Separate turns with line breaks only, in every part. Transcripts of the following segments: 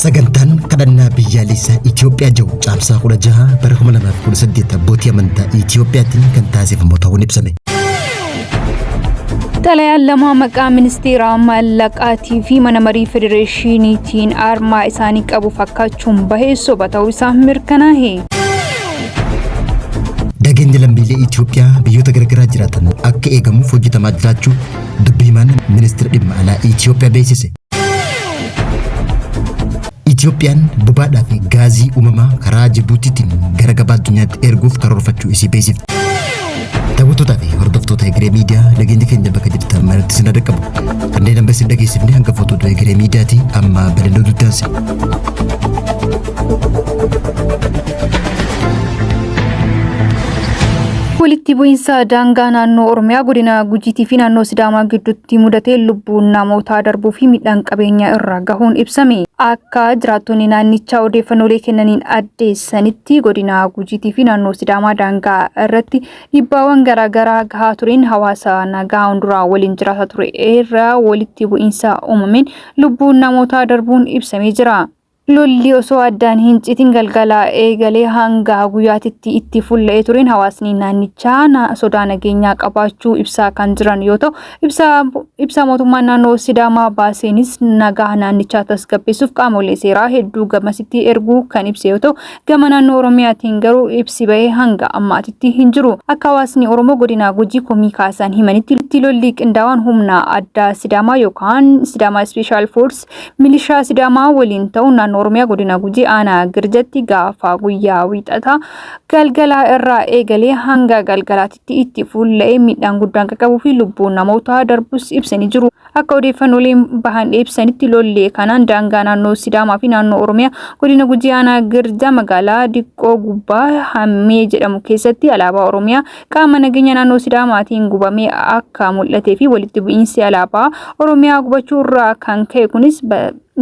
Sagantaan kadhannaa biyyaalessaa Itoophiyaa jiru caamsaa 16 bara 2018 abbootii amantaa Itoophiyaatiin kan taasifamu ta'uun ibsame.
Xalayaan lama maqaa ministeera maallaqaatii fi mana marii federeeshiniitiin armaa isaanii qabu fakkaachuun bahee soba ta'uu isaa mirkanaa'e.
Nageenya lammiilee Itoophiyaa biyyoota garaagaraa jiraatan akka eegamuuf hojjetamaa jiraachuu Dubbi himaan ministira dhimma alaa Itiyoophiyaa beeksise. Itiyoophiyaan bobaadhaa fi gaazii uumamaa karaa Jibuutiitiin gara gabaa addunyaatti erguuf karoorfachuu isii beeksifte. Daawwattootaa fi hordoftoota Egeree Miidiyaa nageenya keenya bakka jirtan maratti isin dhaqqabu. Kanneen amma isin dhageessifne hangafoota oduu Egeree Miidiyaati amma bal'inoo duddaansi.
Walitti bu'iinsa daangaa naannoo Oromiyaa godina Gujiitii fi naannoo Sidaamaa gidduutti mudatee lubbuun namootaa darbuu fi midhaan qabeenyaa irra gahuun ibsame. Akka jiraattonni naannichaa odeeffannoolee kennaniin addeessanitti godina Gujiitii fi naannoo Sidaamaa daangaa irratti dhibbaawwan garaagaraa gahaa tureen hawaasa nagaa hunduraa waliin jiraata ture irra walitti bu'iinsa uumameen lubbuun namootaa darbuun ibsamee jira. Lolli osoo addaan hin citin galgala eegalee hanga guyyaatitti itti fulla'ee tureen hawaasni naannichaa na- sodaa nageenyaa qabaachuu ibsaa kan jiran yoo ta'u, ibsa, ibsa mootummaan naannoo Sidaamaa baaseenis nagaa naannichaa tasgabbeessuuf qaamolee seeraa hedduu gamasitti erguu kan ibse yoo ta'u, gama naannoo Oromiyaatiin garuu ibsi bahee hanga ammaatitti hin jiru. Akka hawaasni Oromoo godina Gujii komii kaasan himanitti lolli qindaawaan humna addaa Sidaamaa yookaan Sidaamaa Special Force Milishaa Sidaamaa waliin ta'uun naannoo Oromiyaa godina Gujii aanaa Girjatti gaafa guyyaa wiixataa galgalaa irraa eegalee hanga galgalaatitti itti fuulla'ee miidhaan guddaan qaqqabuu fi lubbuun namootaa darbus ibsanii jiru. Akka odeeffannooleen bahan ibsanitti lollee kanaan daangaa naannoo Sidaamaa fi naannoo Oromiyaa godina Gujii aanaa Girjaa magaalaa Diqqoo Gubbaa Hammee jedhamu keessatti alaabaa Oromiyaa qaama nageenya naannoo Sidaamaatiin gubamee akka mul'atee fi walitti bu'iinsi alaabaa Oromiyaa gubachuu irraa kan ka'e kunis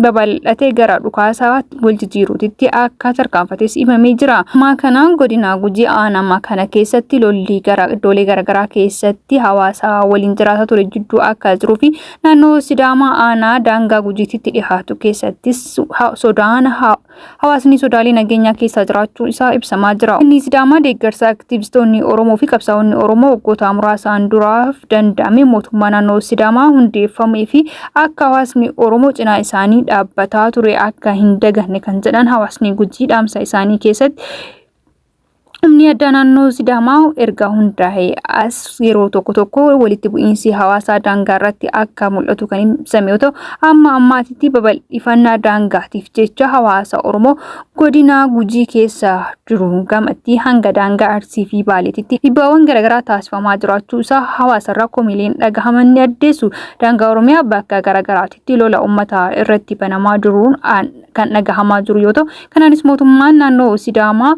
babal'atee gara dhukaasaa wal jijjiiruutitti akka tarkaanfates himamee jira. Ammaa kana godina Gujii aanaa kana keessatti lolli gara iddoolee garaagaraa keessatti hawaasa waliin jiraataa ture jidduu akka jiruu fi naannoo Sidaamaa aanaa daangaa Gujiititti dhihaatu keessattis sodaan hawaasni sodaalee nageenyaa keessaa jiraachuu isaa ibsamaa jira. Inni Sidaamaa deeggarsa aktiivistoonni Oromoo fi qabsaa'onni Oromoo waggoota muraasaan duraaf danda'ame mootummaa naannoo Sidaamaa hundeeffamee fi akka hawaasni Oromoo cinaa isaanii dhaabbataa ture akka hin daganne kan jedhan hawaasni Gujii dhaamsa isaanii keessatti Humni addaa naannoo Sidaamaa erga hundaa'ee as yeroo tokko tokko walitti bu'iinsi hawaasaa daangaa irratti akka mul'atu kan ibsame yoo ta'u, amma ammaatitti babal'ifannaa daangaatiif jecha hawaasa Oromoo godinaa Gujii keessa jiru gamatti hanga daangaa Arsii fi Baaleetitti dhibbaawwan garaagaraa taasifamaa jiraachuu isaa hawaasarraa komiileen dhagahaman ni addeessu. Daangaa Oromiyaa bakka garaagaraatitti lola uummataa irratti banamaa jiruun kan dhagahamaa jiru yoo ta'u kanaanis mootummaan naannoo Sidaamaa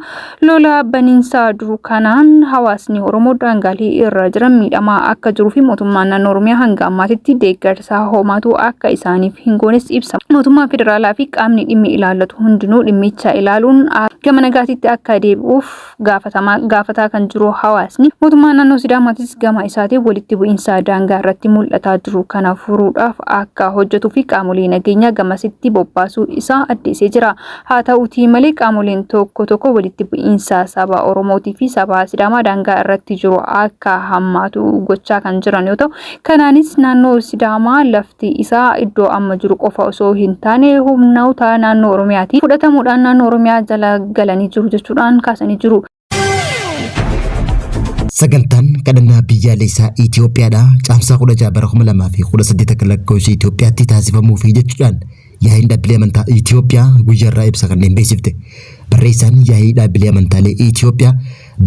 lola baniinsaa jiru kanaan hawaasni Oromoo daangaalee irra jiran miidhamaa akka jiruu fi mootummaan naannoo Oromiyaa hanga ammaatitti deeggarsaa hoomaatuu akka isaaniif hin goones ibsa. Mootummaan federaalaa fi qaamni dhimmi ilaallatu hundinuu dhimmicha ilaaluun gama nagaatitti akka deebi'uuf gaafatamaa gaafataa kan jiru hawaasni mootummaa naannoo Sidaamaatis gama isaatiin walitti bu'iinsa daangaa irratti mul'ataa jiru kana furuudhaaf akka hojjetuu fi qaamolee nageenyaa gamasitti bobbaasuu isaa addeessee jira. Haa ta'uutii malee qaamoleen tokko tokko walitti bu'iinsa saba Oromootii fi saba Sidaamaa daangaa irratti jiru akka hammaatu gochaa kan jiran yoo ta'u, Kanaanis naannoo Sidaamaa lafti isaa iddoo amma jiru qofa osoo hin taane humnoota naannoo Oromiyaatiin fudhatamuudhaan naannoo Oromiyaa jala galanii jiru jechuudhaan kaasanii jiru.
Sagantaan kadhannaa biyyaalessaa Itoophiyaadhaa caamsaa 16 bara 2018 akka lakkoofsa Itoophiyaatti taasifamuufi jechuudhaan Yaa'iin Dhaabbilee Amantaa Itiyoophiyaa guyyaarraa ibsa kanneen beeksifte. Barreessaan Yaa'ii Dhaabbilee Amantaalee Itiyoophiyaa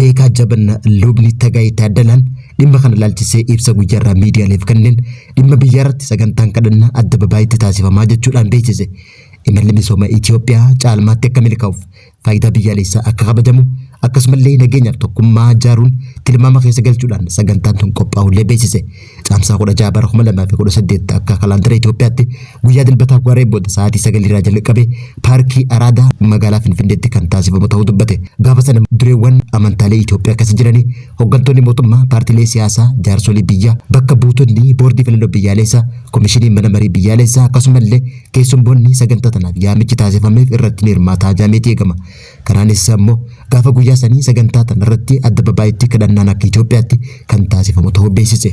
Beekaa Jabanna Lubni Tagaayee Taaddalaan dhimma kana ilaalchisee ibsa guyyaarraa miidiyaaleef kenneen dhimma biyyaarratti sagantaan kadhannaa addababaayitti taasifamaa jechuudhaan beeksise. Imalli misooma Itiyoophiyaa caalmaatti akka milkaa'uuf faayidaa biyyaalessaa akka kabajamu akkasumallee nageenyaaf tokkummaa jaaruun tilmaama keessa galchuudhaan sagantaan tun qophaa'ullee beeksise. Caamsaa 16 bara 2018 akka kalaandara Itoophiyaatti guyyaa dilbataa waaree booda sa'aatii 9 irraa jalqabe paarkii Araadaa magaalaa Finfinneetti kan taasifamu ta'uu dubbate. Gaafa sana dureewwan amantaalee Itoophiyaa keessa jiranii hooggantoonni mootummaa, paartilee siyaasaa, jaarsolii biyyaa, bakka buutonni boordii filannoo biyyaalessaa, komishinii mana marii biyyaalessaa akkasumallee Keessummoonni sagantaa tanaaf yaamichi taasifameef irratti ni hirmaataa jaameeti eegama. Kanaanis ammoo gaafa guyyaa sanii sagantaa tanarratti adda babaa'itti kadhannaan akka Itoophiyaatti kan taasifamu ta'uu beeksise.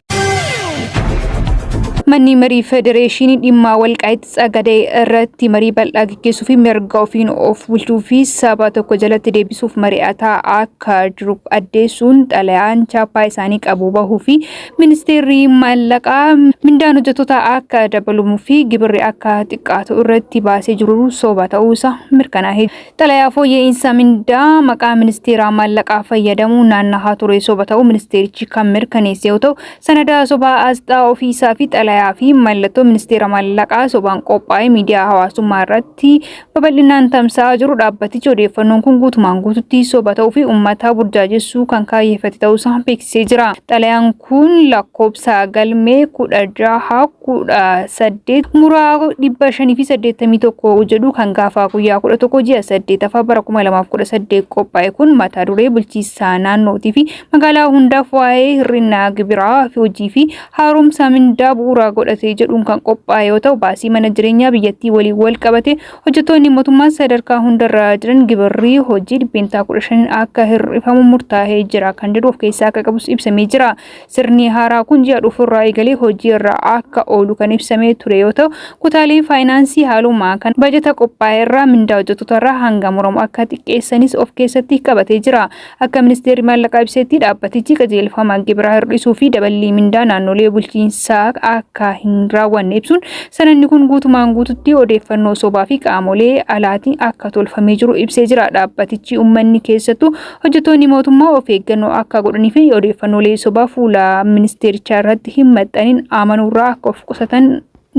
Manni marii federeeshinii dhimmaa walqaa'itti tsagadee irratti marii bal'aa gaggeessuu fi mirga ofiin of bulchuu fi saba tokko jalatti deebisuuf mari'ataa akka jiru addeessuun xalayaan chaappaa isaanii qabu bahuu fi Ministeerri maallaqaa mindaan hojjettoota akka dabalumuu fi gibirri akka xiqqaatu irratti baasee jiru soba ta'uu isaa mirkanaa'e. Xalayaa fooyya'iinsa mindaa maqaa ministeeraa maallaqaa fayyadamuu naannahaa ture soba ta'uu ministeerichi kan mirkaneesse yoo ta'u, sanada sobaa asxaa ofiisaa fi xalayaa fi mallattoo ministeera maallaqaa sobaan qophaa'e miidiyaa hawaasummaa irratti irratti babal'inaan tamsa'aa jiru dhaabbatichi odeeffannoon kun guutumaan guututti soba ta'uu fi uummataa burjaajessuu kan kaayyeffate ta'uusaa beeksisee jira. Xalayaan kun lakkoobsa galmee kudha jaha kudha saddeet muraa dhibba shanii fi saddeettamii tokko jedhu kan gaafa guyyaa kudha tokko ji'a saddeetaffaa bara kuma lamaaf kudha saddeet qophaa'e kun mata duree bulchiinsa naannootii fi magaalaa hundaaf waa'ee hir'ina gibiraa fi hojii fi haaromsaa mindaa bu'uuraa godhatee jedhuun kan qophaa'e yoo ta'u baasii mana jireenyaa biyyattii waliin wal qabate hojjettoonni mootummaa sadarkaa hundarraa jiran gibirri hojii dhibbeentaa 15 akka hir'ifamu murtaa'ee jira kan jedhu of keessaa akka qabus ibsamee jira. Sirni haaraa kun ji'a dhufurraa eegalee hojii irra akka oolu kan ibsamee ture yoo ta'u kutaaleen faayinaansii haaluma kan bajata qophaa'e irraa mindaa hojjettootarraa hanga muramu akka xiqqeessanis of keessatti qabatee jira. Akka Ministeerri Maallaqaa ibsetti dhaabbatichi qajeelfama gibiraa hir'isuu fi daballii mindaa naannolee bulchiinsaa akka hin raawwanne ibsuun, sanadni kun guutumaan guututti odeeffannoo sobaa fi qaamolee alaatiin akka tolfamee jiru ibsee jira. Dhaabbatichi ummanni keessattuu hojjettoonni mootummaa of eeggannoo akka godhanii fi odeeffannoolee sobaa fuula ministeerichaa irratti hin maxxaniin amanuurraa akka of qusatan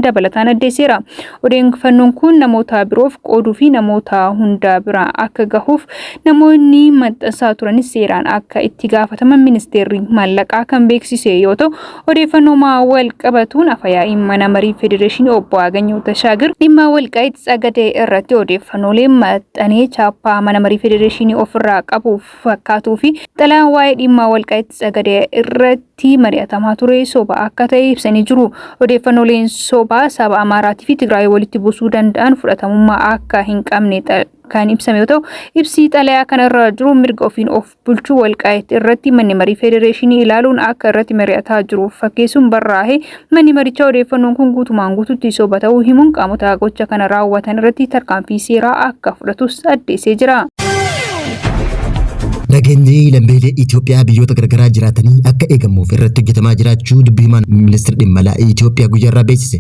dabalataan addeesseera. Odeeffannoon kun namoota biroof qooduu fi namoota hundaa bira akka gahuuf namoonni maxxansaa turanis seeraan akka itti gaafataman ministeerri maallaqaa kan beeksise yoo ta'u, odeeffannooma wal qabatuun afayaa'iin mana marii federeeshinii obbo Aaganyoo Tashaagir dhimma Walqaayit Tsagadee irratti odeeffannoolee maxxanee chaappaa mana marii federeeshinii ofirraa qabuuf fakkaatuu fi xalayaan waa'ee dhimmaa walqa'itti sagade irratti mari'atamaa ture soba akka ta'e ibsanii jiru. Odeeffannooleen sobaa saba Amaaraatii fi Tigraay walitti buusuu danda'an fudhatamummaa akka hin qabne kan ibsame yoo ta'u, ibsi xalayaa kana irra jiru mirga ofiin of bulchuu walqaa'itti irratti manni marii federeeshinii ilaaluun akka irratti mari'ataa jiru fakkeessuun barraa'e Manni marichaa odeeffannoon kun guutumaan guututti soba ta'uu himuun qaamota gocha kana raawwatan irratti tarkaanfii seeraa akka fudhatus addeessee jira.
Nageenyi lammiilee Itoophiyaa biyyoota garaagaraa jiraatanii akka eegamuuf irratti hojjetamaa jiraachuu dubbii himaan ministeera dhimma alaa Itoophiyaa guyyaarraa beeksise.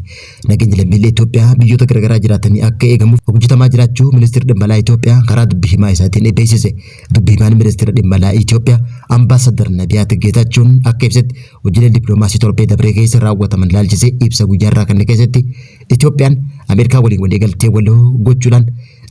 Nageenyi lammiilee Itoophiyaa biyyoota garaagaraa jiraatanii akka eegamuuf hojjetamaa jiraachuu ministeerri dhimma alaa Itoophiyaa karaa dubbii himaa isaatiin beeksise. Dubbii himaan ministeera dhimma alaa Itoophiyaa ambaasadar Nabiyaat Geetaachuun akka ibsetti Hojiilee dippiloomaasii torbee dabree keessa raawwataman ilaalchisee ibsa guyyaa irraa kanne keessatti Itoophiyaan Ameerikaa waliin waliigaltee waloo gochuudhaan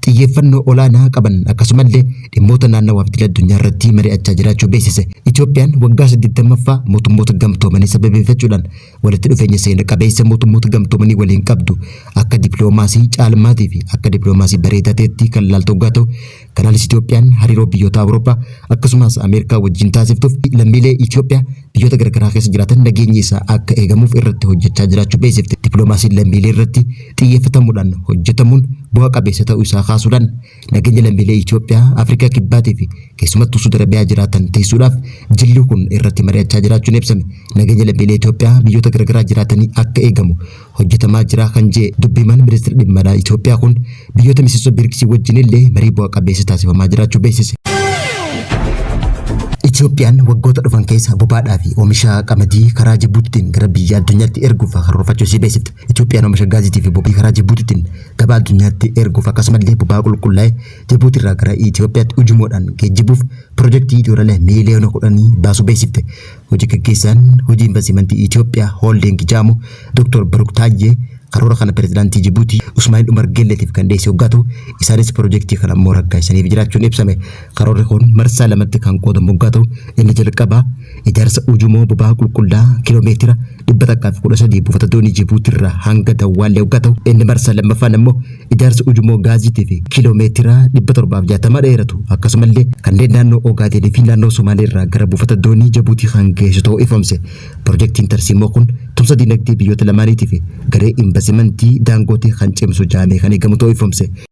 xiyyeeffannoo olaanaa qaban akkasumallee dhimmoota naannawaa fi idil addunyaa irratti mari'achaa jiraachuu beeksise. Itoophiyaan waggaa 80ffaa mootummoota gamtoomanii sababeeffachuudhaan walitti dhufeenya seena qabeessa mootummoota gamtoomanii waliin qabdu akka dippiloomaasii caalmaatii fi akka dippiloomaasii bareedaa ta'etti kan ilaaltu hoggaa ta'u Kanaanis Itoophiyaan hariiroo biyyoota Awurooppaa akkasumas Ameerikaa wajjin taasiftuuf lammiilee Itoophiyaa biyyoota garaagaraa keessa jiraatan nageenyi isaa akka eegamuuf irratti hojjechaa jiraachuu beeksifte. Dippiloomaasiin lammiilee irratti xiyyeeffatamuudhaan hojjetamuun bu'a qabeessa ta'uu isaa kaasuudhaan nageenya lammiilee Itoophiyaa Afrikaa Kibbaatii fi keessumattuu Suud Arabiyaa jiraatan tiisuudhaaf jilli kun irratti mari'achaa jiraachuun ibsame. Nageenya lammiilee Itoophiyaa biyyoota garaagaraa jiraatanii akka eegamu hojjetamaa jira kan jee dubbiimaan ministeera dhimma alaa Itoophiyaa kun biyyoota miseensa BRICS wajjin illee marii bu'a qabeessa taasifamaa jiraachuu beeksise. Itoophiyaan waggoota dhufan keessa bobaadhaa fi oomisha qamadii karaa Jibuutiitiin gara biyya addunyaatti erguuf karoorfachuu isii beeksifte. Itoophiyaan oomisha gaaziitii fi bobii karaa Jibuutiitiin gabaa addunyaatti erguuf akkasumallee bobaa qulqullaa'e Jibuutiirraa gara Itoophiyaatti ujumoodhaan geejjibuuf pirojektii doolaara miiliyoona kudhanii baasuu beeksifte. Hoji gaggeessaan hojii invastimantii Itoophiyaa Hooldiing Jaamo Doktor Biruk Taayyee karoora kana pirezidaantii Jibuutii Usmaa'il Umar Geelleetiif kan dhiyeesse hoggaa ta'u, isaanis pirojektii kana immoo raggaasisaniif jiraachuun ibsame. Karoorri kun marsaa lamatti kan qoodamu hoggaa ta'u, inni jalqabaa ijaarsa ujumoo boba'aa qulqulla'aa kiiloo meetira dhibba takkaa fi kudha sadii buufata doonii Jibuutii irraa hanga Dawwaallee hoggaa ta'u inni marsaa lammaffaan ammoo ijaarsa ujummoo gaaziitii fi kiiloomeetira dhibba torbaa fi jaatama dheeratu akkasumallee kanneen naannoo Ogaadeenii fi naannoo Somaalee irraa gara buufata doonii Jibuutii kan geessu ta'uu ifomse. Pirojektiin tarsiimoo kun tumsa dinagdee biyyoota lamaaniitii fi garee invastimantii Daangootee kan cimsu jaamee kan eegamu ta'uu ifomse.